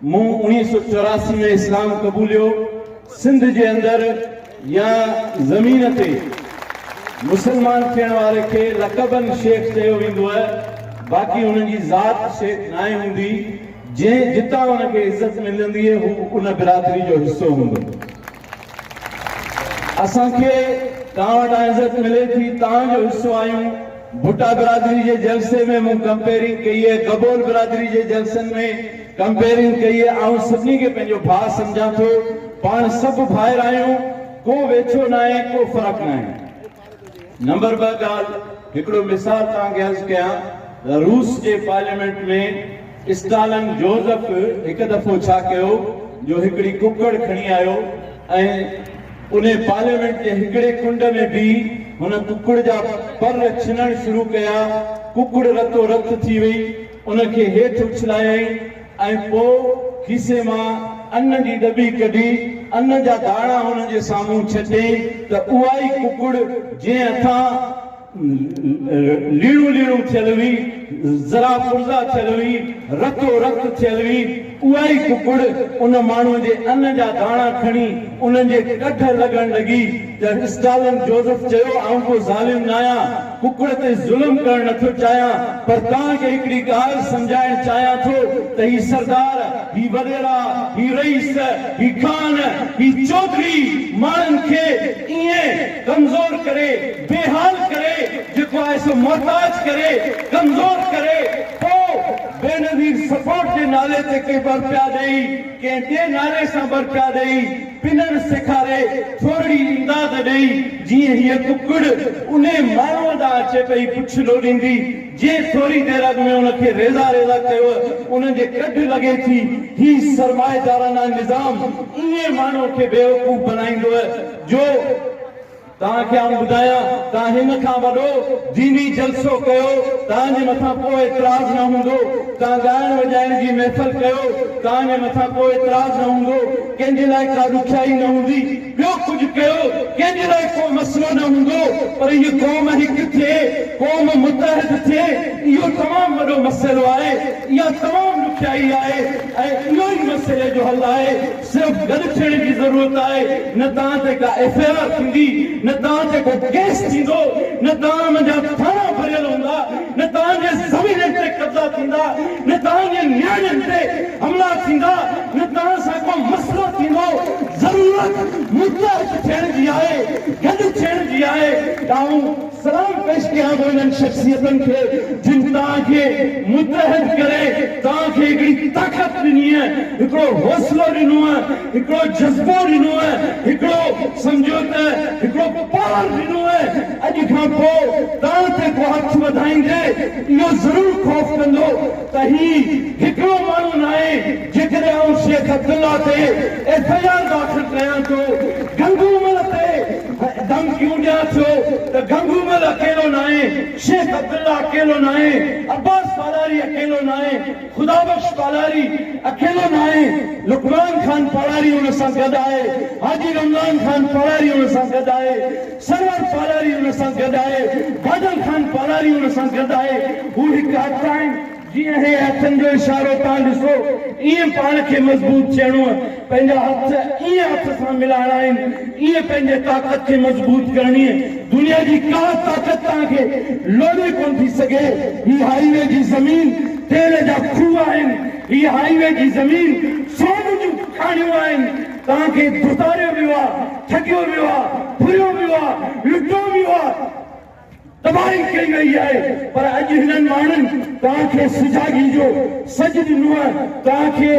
مون اڻيهه سؤ چوراسي ۾ اسلام قبوليو، سنڌ جي اندر يا زمين تي مسلمان ٿيڻ واري کي لقباً شيخ چيو ويندوء، باقي هن جي ذات شيخ ناهي هوندي، جنهن جتان هن کي عزت ملنديء هو ان برادري جو حصو هوندو. اسان کي تان وٽان عزت ملي ٿي تان جو حصو آهيون ڀٽا برادري جي جلسي ۾ مون ڪمپيرنگ ڪئي هي گبول برادري جي جلسن ۾ ڪمپيرنگ ڪئي هي آئون سڀني کي پنهنجو ڀاء سمجهان ٿو پاڻ سڀ ڀائر آهيون ڪو ويڇو ناهي ڪو فرق ناهي نمبر ٻه ڳالهه هڪڙو مثال توهان کي عرض ڪيان ته روس جي پارليامينٽ ۾ اسٽالن جوزف هڪ دفعو ڇا ڪيو جو هڪڙي ڪڪڙ کڻي آيو ۽ انهي پارليامينٽ جي هڪڙي ڪنڊ ۾ بيهي هن ڪڪڙ جا پر ڇنڻ شروع ڪيا ڪڪڙ رتو رت ٿي وئي ان کي هيٺ اڇلايائين ۽ پوء کيسي مان ان جي ڏٻي ڪڍي ان جا داڻا هن جي سامهون ڇٽيائين ته اها ئي ڪڪڙ جنهن هٿان ليڻو ليڻو ٿيل هئي، ذرا فرزا ٿيل هئي، رتو رت ٿيل هئي، اها ئي ڪڪڙ ان ماڻهوء جي ان جا داڻا کڻي انهن جي ڪڍ لڳڻ لڳي ته اسٽالن جوزف چيو، آئون ڪو ظالم ناهيان. ڪڪڙ تي ظلم ڪرڻ نه ٿو چاهيان پر توهان کي هڪڙي ڳالهه سمجهائڻ چاهيان ٿو ته هي سردار، هي وڏيرا، هي رئيس، هي خان، هي چوڌري ماڻهن کي ائين ڪمزور ڪري، بي حال ڪري، جيڪو آهي سو محتاج ڪري، ڪمزور ڪري، پوء بينظير سپورٽ جي نالي تي ڪي ٻرپيا ڏئي، ڪنهن ٻئي نالي سان ٻرپيا ڏئي، پنڻ سيکاري ٿورڙي امداد ڏئي جيئن هيء ڪڪڙ انهي ماڻهوء ڏانهن اچي پئي پڇ لوڏيندي جي ٿوري دير اڳ ۾ ان کي ريزا ريزا ڪيوء ان جي ڪڍ لڳي ٿي هي سرمائيدارانه نظام ايئن ماڻهوء کي بيوقوف بنائيندوء جو توهان کي آئون ٻڌايان، توهان هن کان وڏو ديني جلسو ڪيو، توهان جي مٿان ڪو اعتراض نه هوندو، توهان ڳائڻ وڄائڻ جي محفل ڪيو، توهان جي مٿان ڪو اعتراض نه هوندو، ڪنهن جي لاء ڪا ڏکيائي نه هوندي، ٻيو ڪجهه ڪيو، ڪنهن جي لاء ڪو مسئلو نه هوندو، پر هيء قوم هڪ ٿئي، قوم متحد ٿئي، اهو تمام وڏو مسئلو آهي، اها تمام ڏکيائي آهي ۽ اهو ئي مسئلي جو حل آهي. صرف گڏ ٿيڻ جي ضرورت آهي نه تان تي ڪا ايف اي آر ٿيندي نه تان تي ڪو ڪيس ٿيندو نه تان منجا ٿاڻا ڀريل هوندا نه تان جي زمينن تي قبضا ٿيندا نه تان جي نياڻين تي حملا ٿيندا نه تان سان ڪو مسئلو ٿيندو ضرورت متحد ٿيڻ جي آهي گڏ ٿيڻ جي آهي ڏانهن سلام پيش ڪيان ٿو انهن شخصيتن کي جن توهان کي متحد ڪري توهان کي هڪڙي طاقت ڏنيء، هڪڙو حوصلو ڏنوء، هڪڙو جذبو ڏنوء، هڪڙو سمجهو ته هڪڙو پاور ڏنوء، اڄ کان پوء توهان تي ڪو هٿ وڌائيندي اهو ضرور خوف ڪندو ته هي هڪڙو ماڻهو ناهي، جيڪڏهن آئون شيخ عبدالله تي ايف آء آر داخل ڪيان ٿو، گنگو مل تي دم ڪيون ڏيان ٿيو ته گنگومل اڪيلو ناهي، شيخ عبدالله اڪيلو ناهي، عباس پالاري اڪيلو ناهي، خدا بخش پالاري اڪيلو ناهي، لقمان خان پالاري ان سان گڏ آهي، حاجي رمضان خان پالاري ان سان گڏ آهي، سرور پالاري ان سان گڏ آهي، بادل خان پالاري ان سان گڏ آهي، هو هڪ هٿ آهن. جيئن اهي هٿن جو اشارو تان ڏسو ايئن پاڻ کي مضبوط ٿيڻو آهي پنهنجا هٿ ايئن هٿ سان ملائڻا آهن ايئن پنهنجي طاقت کي مضبوط ڪرڻي آهي دنيا جي ڪا طاقت توهان کي لوڏي ڪونه ٿي سگهي هي هائي وي جي زمين تيل جا کوهه آهن هي هائي وي جي زمين سون جون کاڻيون آهن توهان کي ڌتاريو ويو آهي ٺڳيو ويو آهي ڦريو ويو آهي لٽو ويو آهي. تباهي ڪئي وئي آهي پر اڄ هنن ماڻهن توهان کي سجاڳي جو سڏ ڏنو آهي توهان کي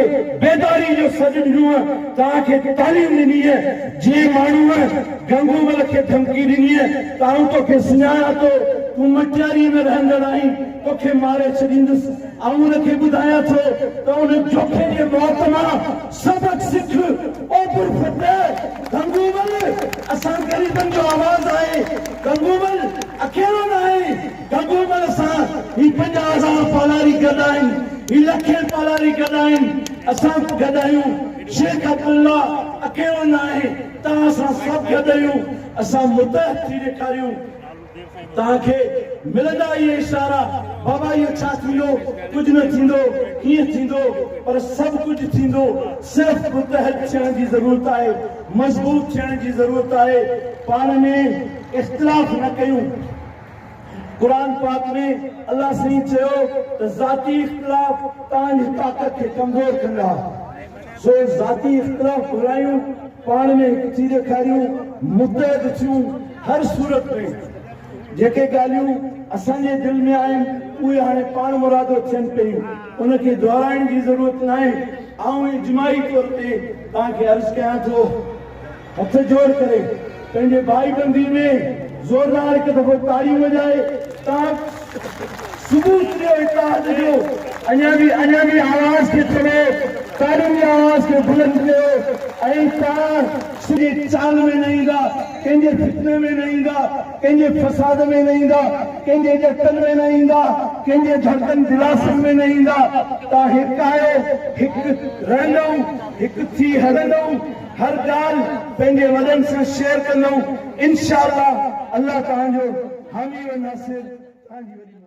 بيداري جو سڏ ڏنو آهي توهان کي تعليم ڏني آهي جنهن ماڻهوء گنگومل کي ڌمڪي ڏني آهي ته آئون تو کي سڃاڻان ٿو تون مٽياري ۾ رهندڙ آهين تو کي ماري ڇڏيندس آئون ان کي ٻڌايان ٿو ته ان جوکي جي موت مان سبق سک او پر ڦٽي گنگومل اسان غريبن جو آواز آهي گنگومل اڪيلو نه آهي گنگومل سان هي پنجاهه هزار پالاري گڏ آهن هي لکين پالاري گڏ آهن اسان گڏ آهيون شيخ عبدالله اڪيلو نه آهي توهان سان سڀ گڏ اهيون اسان متحد ٿي ڏيکاريون توهان کي ملندا اهي اشارا، بابا اهو ڇا ٿيندو، ڪجهه نه ٿيندو، ڪيئن ٿيندو، پر سڀ ڪجهه ٿيندو، صرف متحد ٿيڻ جي ضرورت آهي، مضبوط ٿيڻ جي ضرورت آهي، پاڻ ۾ اختلاف نه ڪيون. قرآن پاڪ ۾ الله سائين چيو ته ذاتي اختلاف توهان جي طاقت کي ڪمزور ڪندا. سو ذاتي اختلاف ڀلائيون پاڻ ۾ هڪ ٿي ڏيکاريون متحد ٿيون هر صورت ۾ جيڪي ڳالهيون اسان جي دل ۾ آهن اهي هاڻي پاڻ مرادو ٿين پيون ان کي دهرائڻ جي ضرورت ناهي آئون اجماعي طور تي توهان کي عرض ڪيان ٿو هٿ جوڙ ڪري پنهنجي ڀائي بندي ۾ زوردار هڪ دفعو تاڙيون وڄائي تان ثبوت ڏيو اتحاد جو اڃا به اڃا به آواز کي چوي تاڙين جي آواز کي بلند ڪيو ۽ تان سڄي چال ۾ نه ايندا ڪنهن جي فتني ۾ نه ايندا ڪنهن جي فساد ۾ نه ايندا ڪنهن جي ڏٽن ۾ نه ايندا ڪنهن جي ڌڙڪن دلاسن ۾ نه ايندا تان هڪ آهيو هڪ رهندؤ هڪ ٿي هلندؤ. هر ڳالهه پنهنجي وڏن سان شيئر ڪندؤن انشاء الله الله توهان جو حامي و ناصر توهان جي وڏي